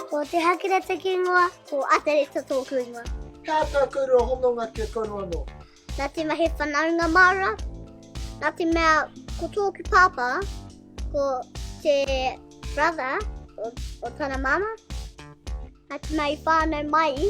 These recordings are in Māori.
Ko Te Hakere teki ingoa, ko Atereta tōku ingoa. Kā tā kouroa hononga ki a kouroa anō? Nā te mahi whanaunga māra, nā te mea ko tōku pāpā, ko te brother o, o tana māma, nā te mea i whānau mai,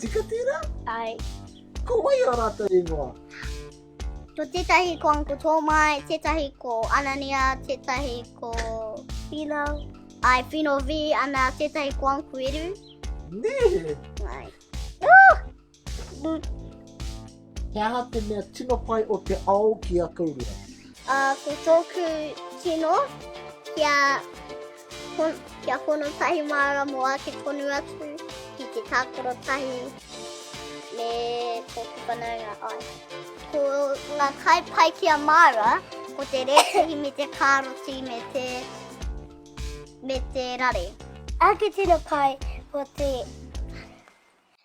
Tika tērā? Ai. Ko wai ā rātou ingoa? Ko tētahi ko Uncle Tōmai, tētahi ko Anania, tētahi ko... Pino. Ai, Pino V, ana tētahi ko Uncle Eru. Nē! Ai. Tonu, He aha te mea tino pai o te ao ki a kouria? A, ko tōku tino, kia, kia hono tahi māra mō ake tonu atu ki te tākaro tahi me tōku whanaunga ai. Ko ngā kai pai ki a māra, ko te rētahi me te kāroti me te, me te rare. Ake tino pai ko te